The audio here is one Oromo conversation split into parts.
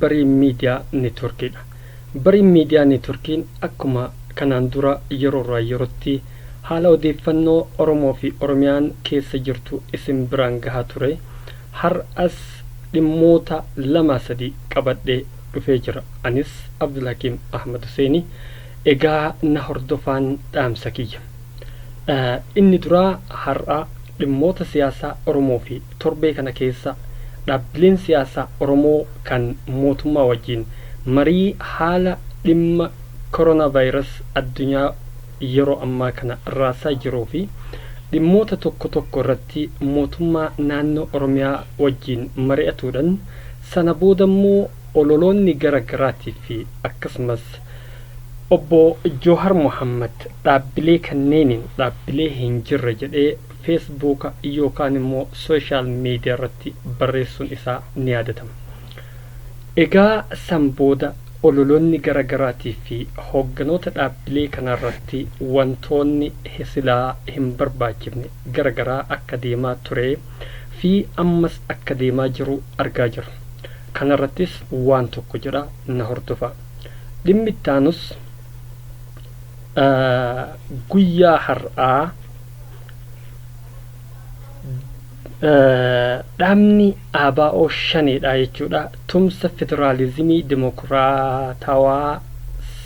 Bariin Miidiyaa Neetworkiidha. Bariin Miidiyaa Neetworkiin akkuma kanaan dura yeroorraa yerootti haala odeeffannoo Oromoofi Oromiyaan keessa jirtu isin biraan gahaa ture har'as dhimmoota lamaa sadii qabadhee dhufee jira. Anis Abdulhakiim Ahmad Huseeni. Egaa na hordofaan dhaamsa kiyya. Inni duraa har'a dhimmoota siyaasaa Oromoo fi torbee kana keessa dhaabbileen siyaasaa Oromoo kan mootummaa wajjin marii haala dhimma Koronaavaayiras addunyaa yeroo ammaa kana raasaa jiruu fi dhimmoota tokko tokko irratti mootummaa naannoo Oromiyaa wajjin mari'atuudhan sana boodammoo ololoonni gara garaatiif fi akkasumas Obbo Joohar Mohaammad dhaabbilee kanneeniin dhaabbilee hin jirre jedhee Feesbuuka yookaan immoo sooshaal miidiyaarratti barreessuun isaa ni yaadatama. Egaa san booda ololoonni gara garaatii fi hoogganoota dhaabbilee kanaarratti wantoonni silaa hin barbaachifne gara garaa akka deemaa turee fi ammas akka deemaa jiru argaa jirra. Kanarrattis waan tokko jedha na hordofaa. Dhimmi itti aanus guyyaa har'aa dhaabni ABO shaneedha jechuudha. Tumsa federaalizimii dimokiraatawaa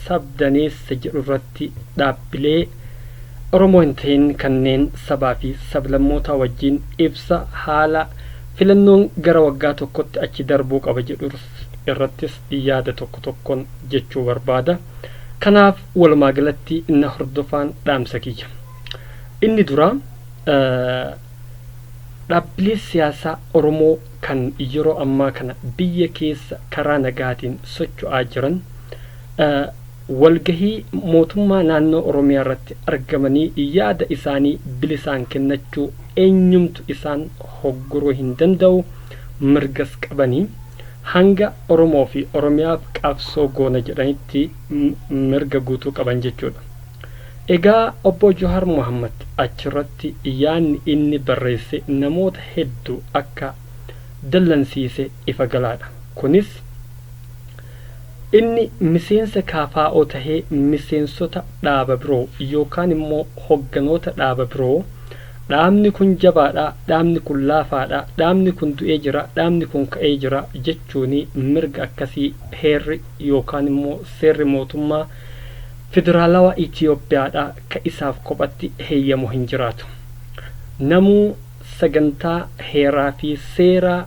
sabdaneessa jedhu irratti dhaabbilee Oromoo hin ta'in kanneen sabaa fi sablammootaa wajjin ibsa haala filannoon gara waggaa tokkotti achi darbuu qaba jedhu irrattis yaada tokko tokkon jechuu barbaada. Kanaaf walumaa galatti na hordofaan dhaamsa kiyya. Inni duraa dhaabbilee siyaasaa Oromoo kan yeroo ammaa kana biyya keessa karaa nagaatiin socho'aa jiran walgahii mootummaa naannoo Oromiyaa irratti argamanii yaada isaanii bilisaan kennachuu eenyumtu isaan hogguruu hin danda'u. mirgas qabanii hanga Oromoo fi Oromiyaaf qabsoo goona jedhanitti mirga guutuu qaban jechuudha. Egaa Obbo Juhaar Mohammad achirratti yaadni inni barreesse namoota heddu akka dallansiise ifa galaadha. Kunis inni miseensa KFO tahee miseensota dhaaba biroo yookaan immoo hogganoota dhaaba biroo Dhaabni kun jabaadha, dhaabni kun laafaadha, dhaabni kun du'ee jira, dhaabni kun ka'ee jira jechuun mirga akkasii heerri yookaan immoo seerri mootummaa Federaalawaa Itiyoophiyaadhaa ka isaaf kophatti heyyamu hin jiraatu. Namuu sagantaa heeraa fi seeraa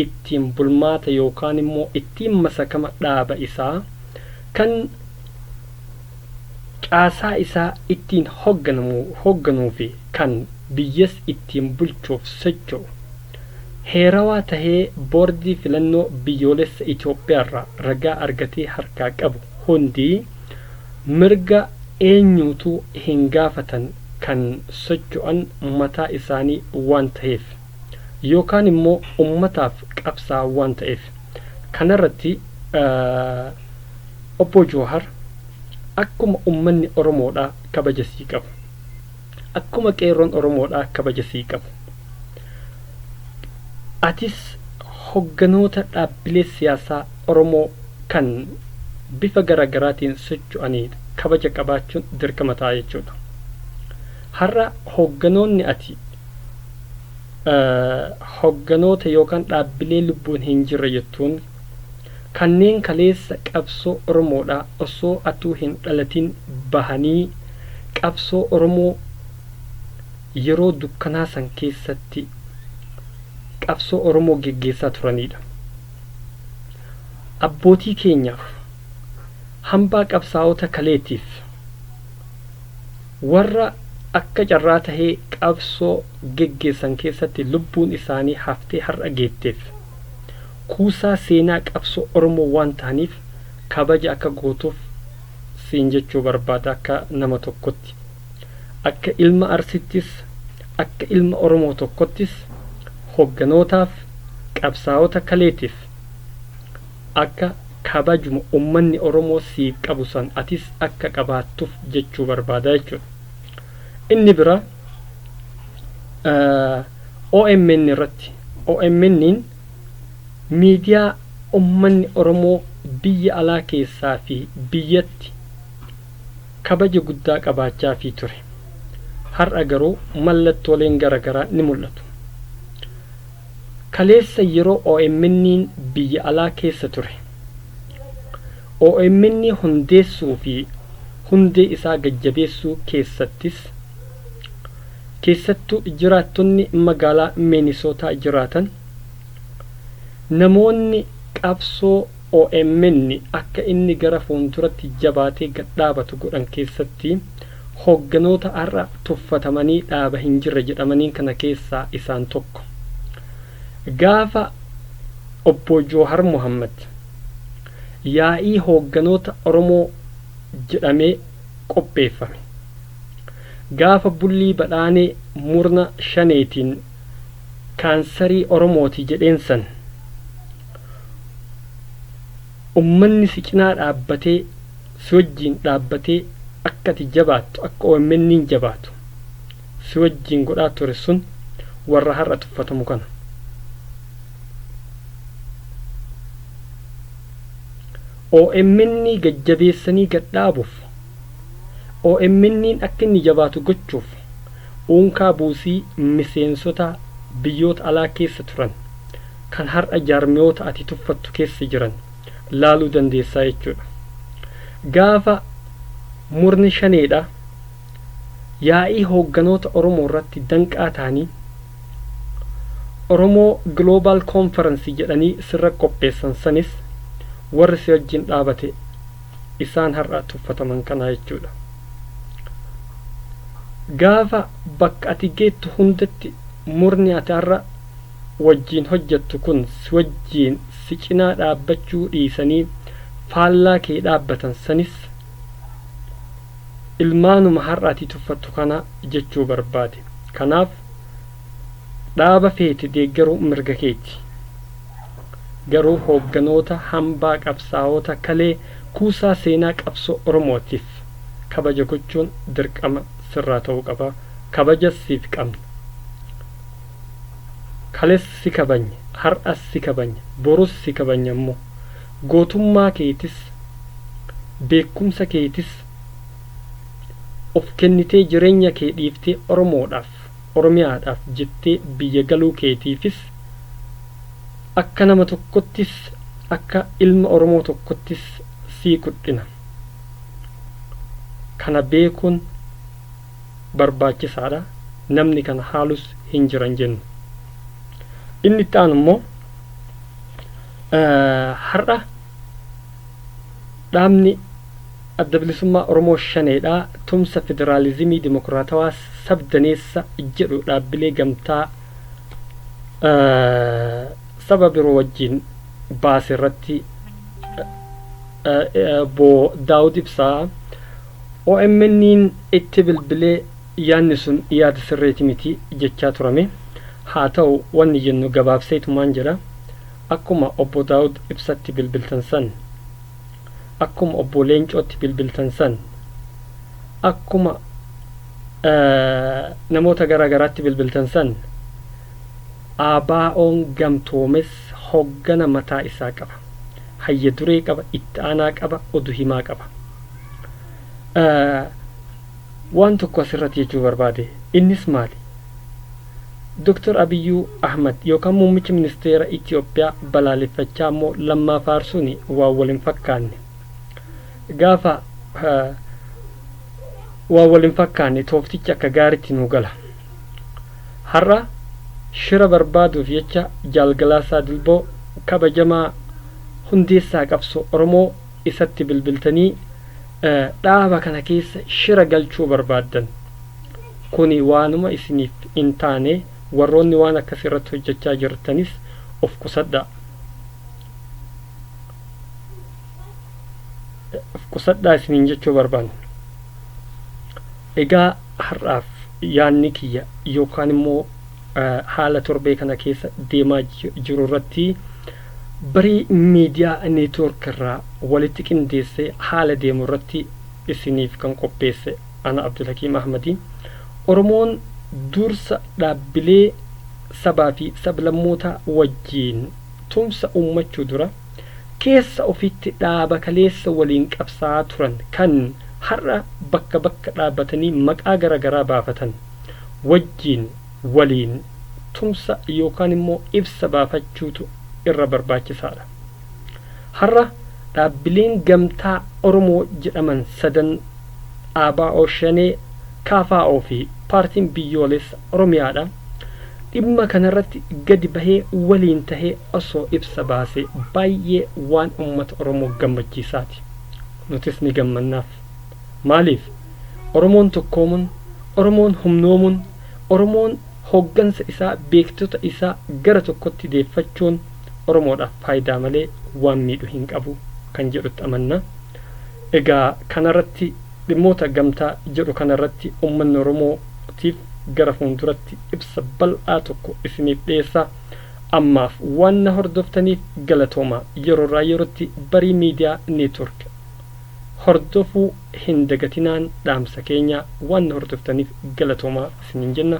ittiin bulmaata yookaan immoo ittiin masakama dhaaba isaa kan caasaa isaa ittiin hogganamu hogganuu fi kan biyyas ittiin bulchuuf socho'u heerawaa tahee Boordii Filannoo Biyyoolessa Itoophiyaa irraa ragaa argatee harkaa qabu hundi mirga eenyuutuu hin gaafatan kan socho'an mataa isaanii waan taheef yookaan immoo ummataaf qabsaa'an waan ta'eef kanarratti Obboo Jowahar akkuma ummanni Oromoodhaa kabaja sii qabu, akkuma qeerroon Oromoodhaa kabaja sii qabu, atis hogganoota dhaabbilee siyaasaa Oromoo kan bifa gara garaatiin socho'anii kabaja qabaachuun dirqama ta'a jechuudha. Har'a hogganoonni ati hogganoota yookaan dhaabbilee lubbuun hin jirre jettuun Kanneen kaleessa qabsoo Oromoodhaa osoo atuu hin dhalatin bahanii qabsoo Oromoo yeroo dukkanaa san keessatti qabsoo Oromoo geggeessaa turaniidha. Abbootii keenyaaf, hambaa qabsaa'ota kaleetiif, warra akka carraa tahee qabsoo geggeessan keessatti lubbuun isaanii haftee har'a geetteef, Kuusaa seenaa qabsoo Oromoo waan tahaniif kabaja akka gootuuf siin jechuu barbaada akka nama tokkotti. Akka ilma Arsiittis, akka ilma Oromoo tokkottis hogganootaaf, qabsaawota kaleetiif akka kabajuma ummanni Oromoo siif qabu san atis akka qabaattuf jechuu barbaada jechuudha. Inni biraa, omn irratti, omn, Miidiyaa ummanni Oromoo biyya alaa keessaa fi biyyatti kabaja guddaa qabaachaafii ture. Har'a garuu mallattooleen garagaraa ni mul'atu. Kaleessa yeroo OMNn biyya alaa keessa ture, omn hundeessuu fi hundee isaa gad-jabeessuu keessattis, Keessattuu jiraattonni magaalaa Miinisootaa jiraatan namoonni qabsoo omn akka inni gara fuulduratti jabaatee gad dhaabatu godhan keessatti hoogganoota har'a tuffatamanii dhaaba hin jirre jedhamaniin kana keessaa isaan tokko. Gaafa Obbo Joohar Mohaammad yaa'ii hoogganoota Oromoo jedhamee qopheeffame. Gaafa bullii badhaanee murna shaneetiin kaansarii oromooti jedheen san ummanni si cinaa dhaabbatee si wajjiin dhaabbatee akka ati jabaattu akka OMNn jabaatu si wajjiin godhaa ture sun warra har'a tuffatamu kana. OMN gad jabeessanii gad dhaabuuf OMN'n akka inni jabaatu gochuuf uunkaa buusii miseensota biyyoota alaa keessa turan kan har'a jaarmiyoota ati tuffattu keessa jiran laaluu dandeessaa jechuudha. Gaafa murni shaneedha yaa'ii hoogganoota Oromoo irratti danqaa ta'anii Oromoo Global Conference jedhanii sirra qopheessan sanis warri si wajjin dhaabate isaan har'a tuffataman kanaa jechuudha. Gaafa bakka ati geettu hundatti murni ati har'a wajjiin hojjettu kun si wajjiin si cinaa dhaabbachuu dhiisanii faallaa kee dhaabbatan sanis ilmaanuma har'a ati tuffattu kana jechuu barbaade. Kanaaf dhaaba feete deeggaruu mirga keeti. garuu hoogganoota hambaa qabsaa'oota kalee kuusaa seenaa qabsoo Oromootiif kabaja gochuun dirqama sirraa ta'uu qaba. Kabajas siif qabna. Kales si kabanye, har'as si kabanya, borus si kabanya immoo. Gootummaa keetis, beekumsa keetis of kennitee jireenya kee dhiiftee Oromoodhaaf, Oromiyaadhaaf jettee biyya galuu keetiifis akka nama tokkottis akka ilma Oromoo tokkottis sii kudhina. Kana beekuun barbaachisaadha. Namni kana haalus hin jiran jennu. Inni itti aanu immoo har'a dhaabni Adda Bilisummaa Oromoo Shaneedha, Tumsa Federaalizimii Dimokiraatawaa Sab-daneessa jedhu dhaabbilee gamtaa saba biroo wajjin baase irratti Obbo Daawud Ibsaa OMN'n itti bilbilee yaadni sun yaada sirreeti miti jechaa turame. Haa ta'u wanni jennu gabaabseetumaan jedha. Akkuma Obbo Daawud Ibsatti bilbiltan san. akkuma obbo Leencootti bilbiltan san akkuma namoota garaa garaatti bilbiltan san ABOn gamtoomes hoggana mataa isaa qaba. Hayya duree qaba, itti aanaa qaba, odu himaa qaba. Waan tokko asirratti jechuu barbaade innis maali? Dr. Abiyyuu Ahmad yookaan muummicha ministeera Itiyoophiyaa balaaleffachaa immoo Lammaa faarsuun waan wal hin fakkaanne. Gaafa waan wal hin fakkaanne tooftichi akka gaaritti nuu gala. Har'a shira barbaaduuf jecha Jaal Galaasaa Dilboo kabajamaa hundeessaa qabsoo Oromoo isatti bilbiltanii dhaaba kana keessa shira galchuu barbaaddan. Kuni waanuma isiniif hin taane, warroonni waan akkasii irratti hojjachaa jirtanis of qusadhaa. Of qusadhaa isiniin jechuu barbaanna. Egaa har'aaf yaadni kiyya yookaan immoo haala torbee kana keessa deemaa jiru irratti barii miidiyaa neetwoork irraa walitti qindeessee haala deemu irratti isiniif kan qopheesse Ana Abdulhakiim Ahmadi. Oromoon dursa dhaabbilee sabaa fi sablammootaa wajjiin tumsa uummachuu dura keessa ofiitti dhaaba kaleessa waliin qabsaa'aa turan kan har'a bakka bakka dhaabatanii maqaa gara garaa baafatan wajjiin waliin tumsa yookaan immoo ibsa baafachuutu irra barbaachisaadha. Har'a dhaabbileen gamtaa Oromoo jedhaman sadan ABO, Shanee, KFO fi Paartiin Biyyoolessa Oromiyaadha. Dhimma kanarratti gadi bahee waliin tahee osoo ibsa baasee baay'ee waan ummata Oromoo gammachiisaati. Nutis ni gammannaaf. Maaliif? Oromoon tokkoomun, Oromoon humnoomun, Oromoon hooggansa isaa, beektota isaa gara tokkotti deeffachuun, Oromoodhaaf faayidaa malee waan miidhu hin qabu kan jedhutti amanna. Egaa kana irratti dhimmoota gamtaa jedhu kana irratti ummanni Oromoo tiif gara fuunduratti ibsa bal'aa tokko isiniif dhiyeessa. Ammaaf waan na hordoftaniif galatoomaa. Yeroo irraa yerootti Barii Media Network hordofuu hin dagatinaan dhaamsa keenya. Waan na hordoftaniif galatoomaa isiniin jenna.